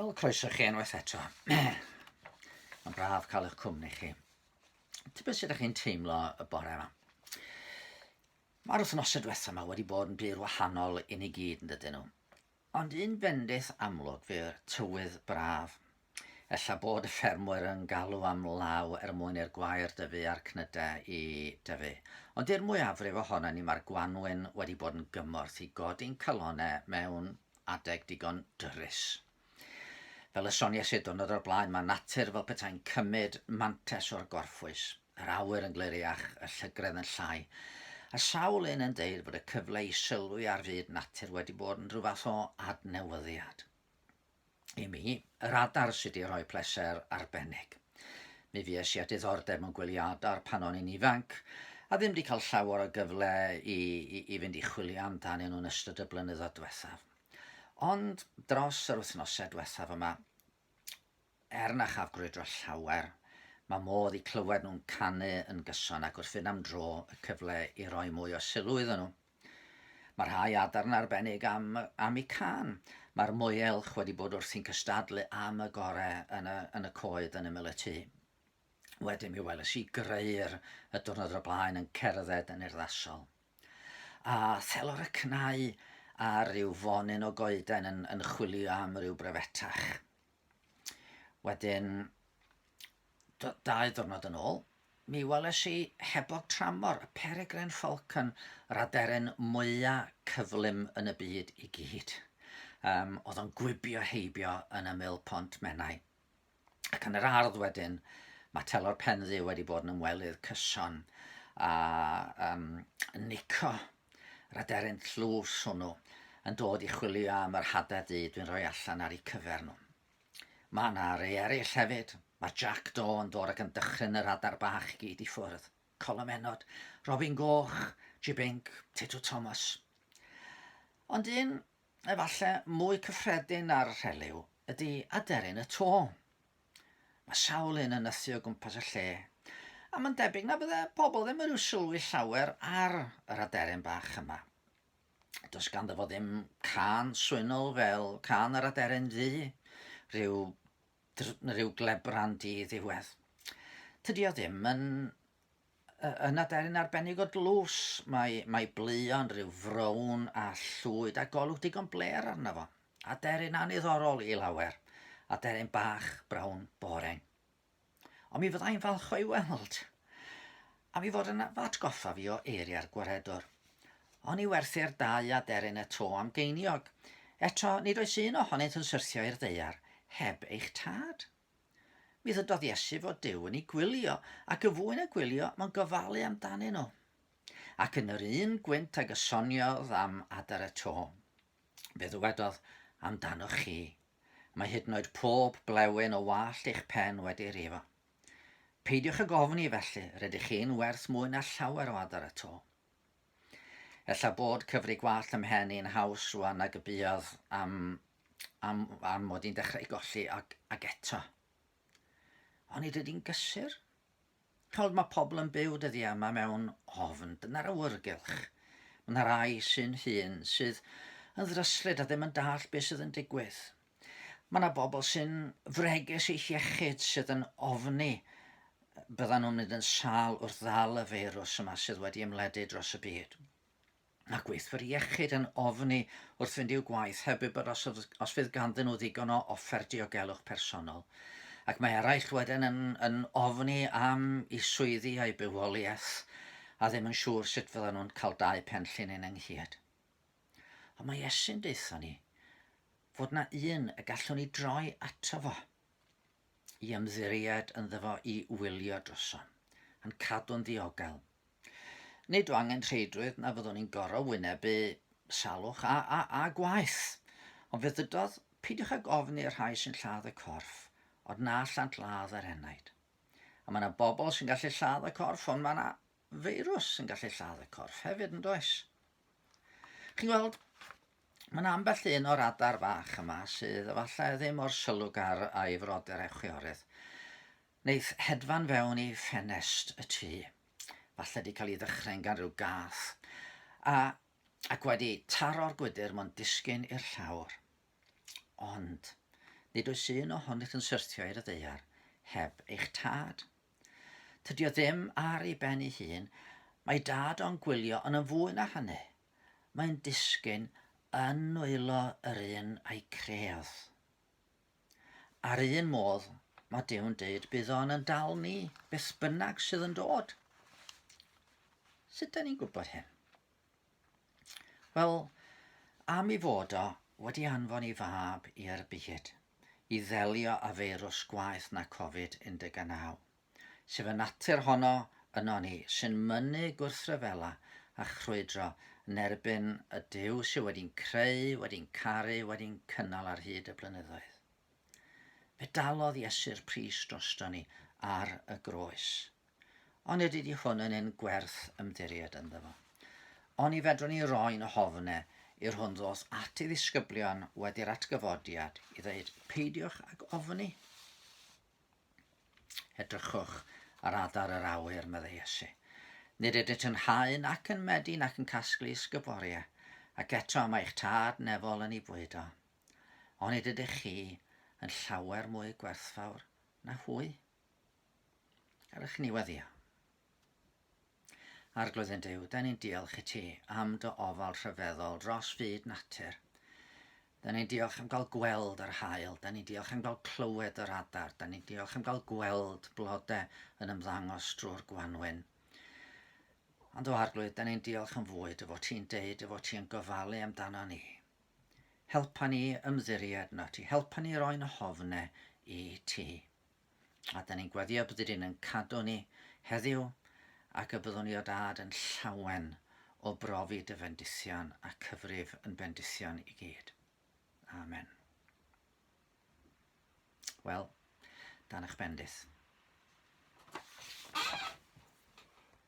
Wel, croeso chi unwaith eto. Mae'n braf cael eich cwmni chi. Ti'n beth sydd ydych chi'n teimlo y bore yma? Mae'r wythnosau diwethaf yma wedi bod yn bur wahanol i ni gyd yn dydyn nhw. Ond un bendith amlwg fe'r tywydd braf Ella bod y ffermwyr yn galw am law er mwyn i'r gwair dyfu a'r cnydau i dyfu. Ond i'r mwyafrif ohonon ni mae'r gwanwyn wedi bod yn gymorth i godi'n calonnau mewn adeg digon dyrys. Fel y soniais i diwrnod o'r blaen, mae natur fel petai'n cymryd mantais o'r gorffwys. Yr awyr yn gliriach, y llygredd yn llai, a sawl un yn deud bod y cyfle i sylwi ar fyd natur wedi bod yn rhyw fath o adnewyddiad. i mi, yr adar sydd wedi rhoi pleser arbennig. Mi fues i â diddordeb mewn gwylio adar pan o'n i'n ifanc, a ddim wedi cael llawer o gyfle i, i, i fynd i chwilio amdanyn nhw'n ystod y blynyddoedd diwethaf. Ond dros yr wythnosau diwethaf yma, er na chaf grwydro llawer, mae modd i clywed nhw'n canu yn gyson ac wrth fynd am dro y cyfle i roi mwy o sylw iddyn nhw. Mae rhai adar yn arbennig am, am y can. Mae'r moelch wedi bod wrthi'n cystadlu am y gorau yn y, yn y coed yn ymyl y tŷ. Wedyn mi weles i greu'r y diwrnod o'r blaen yn cerdded yn urddasol. A thelor y cnau ar ryw fonyn o goeden yn, yn chwilio am ryw brefetach. Wedyn, dau ddwrnod yn ôl, mi weles i hebog tramor, y peregrine falcon, yr aderyn mwyaf cyflym yn y byd i gyd. Um, oedd o'n gwibio heibio yn ymyl pont Menai. Ac yn yr ardd wedyn, mae telor penddu wedi bod yn ymwelydd cyson a um, nico Yr aderyn tlws hwnnw yn dod i chwilio am yr hada du dwi'n rhoi allan ar eu cyfer nhw. Mae yna rei eraill hefyd. Mae Jack Do yn dod ac yn dychryn yr adar bach i gyd i ffwrdd. Colomennod, Robin Goch, Jibinc, Tito Thomas. Ond un efallai mwy cyffredin ar rhelyw ydy aderyn y to. Mae sawl un yn nythu o gwmpas y lle, a mae'n debyg na fydde pobl ddim yn rhyw sylwi llawer ar yr aderyn bach yma. Does ganddo fo ddim can swynol fel can yr aderyn ddu, rhyw, rhyw glebran di ddiwedd. Tydi o ddim yn Yn aderyn arbennig o dlws, mae, mae bleuon rhyw frown a llwyd a golwg digon bler arno fo. Aderyn anniddorol i lawer. Aderyn bach, brown, boring. Ond mi fyddai'n falch o'i weld. A mi fod yn atgoffa fi o eiriau'r gwaredwr. O'n i werthu'r dau aderyn y to am geiniog. Eto, nid oes un ohonynt yn syrthio i'r ddeiar heb eich tad. Mi ddydodd Iesu fod Duw yn ei gwylio, ac yn fwy na gwylio, mae'n gofalu amdanyn nhw. Ac yn yr un gwynt ag y soniodd am adar y to, fe ddywedodd amdanoch chi, mae hyd yn oed pob blewyn o wallt eich pen wedi rifo. Peidiwch ag ofni felly, rydych chi'n werth mwy na llawer o adar y to. Ella bod cyfri gwallt ym mhen i'n haws rwan nag y buodd am, am, am mod i'n dechrau golli ag, ag eto. Ond nid ydy'n gysur. Chawd mae pobl yn byw dyddiau yma mewn ofn, dyna'r awyrgylch. Mae yna rai sy'n hun sydd yn ddryslyd a ddim yn dall beth sydd yn digwydd. Mae yna bobl sy'n fregus eich iechyd sydd yn ofni byddan nhw'n mynd yn sal wrth ddal y feirws yma sydd wedi ymledu dros y byd. Mae gweithwyr iechyd yn ofni wrth fynd i'w gwaith heb wybod os, os fydd ganddyn nhw ddigon o offer diogelwch personol. Ac mae eraill wedyn yn, yn ofni am i swyddi a'i bywoliaeth a ddim yn siŵr sut fyddan nhw'n cael dau pen llinyn ynghyd. Ond mae Iesu'n deutho ni fod na un y gallwn ni droi ato fo i ymddiried ynddo fo i wylio drosom, a'n cadw'n ddiogel. Nid o angen rheidrwydd na fyddwn ni'n gorau wynebu salwch a, a, a gwaith. Ond fe ddydodd, pidiwch ag ofn i'r rhai sy'n lladd y corff, ond na allant ladd yr enaid. A mae yna bobl sy'n gallu lladd y corff, ond mae yna feirws yn gallu lladd y corff hefyd yn does? Chi'n gweld, mae'n ambell un o'r adar fach yma sydd efallai ddim o'r sylwgar a'i frodyr echwiorydd. Neith hedfan fewn i ffenest y tŷ. Falle di cael ei ddychryn gan rhyw gath. A, ac wedi taro'r gwydr mae'n disgyn i'r llawr. Ond, nid oes un ohonych yn syrthio i'r ddeiar heb eich tad. Tydi o ddim ar ei ben ei hun, mae dad o'n gwylio yn yn fwy na hynny. Mae'n disgyn yn nwylo yr un a'i credd. A'r un modd, mae Dew'n deud, bydd o'n yn dal ni, beth bynnag sydd yn dod. Sut da ni'n gwybod hyn? Wel, am i fod o wedi anfon i fab i'r byd i ddelio a feirws gwaeth na Covid 19, sef y natur honno yno ni sy'n mynnu gwrthryfela a chrwydro yn erbyn y Duw sydd wedi'n creu, wedi'n caru, wedi'n cynnal ar hyd y blynyddoedd. Fe dalodd Iesu'r pris drosto ni ar y groes. Onid ydy hwn yn un gwerth ymddiried ynddo fo? Oni fedrwn ni roi'n ofne i'r hwn ddos at ei ddisgyblion wedi'r atgyfodiad i ddeud peidiwch ag ofni? Edrychwch ar adar yr awyr, meddai Iesu. Nid ydynt yn hau nac yn medu nac yn casglu ysgyboria, ac eto mae eich tad nefol yn ei bwydo. Onid ydych chi yn llawer mwy gwerthfawr na hwy? Ewch i ni weddio. Arglwydd yn Dyw, da ni'n diolch i ti am dy ofal rhyfeddol dros fyd natur. Da ni'n diolch am gael gweld yr hael, da ni'n diolch am gael clywed yr adar, da ni'n diolch am gael gweld blodau yn ymddangos drwy'r gwanwyn. Ond o arglwydd, da ni'n diolch yn fwy dy fod ti'n deud, dy fod ti'n gofalu amdano ni. Helpa ni ymddiried na ti, helpa ni roi'n hofne i ti. A da ni'n gweddio bod ydyn yn cadw ni heddiw ac y byddwn i o dad yn llawen o brofi dy fendithion a cyfrif yn bendithion i gyd. Amen. Wel, dan eich bendith.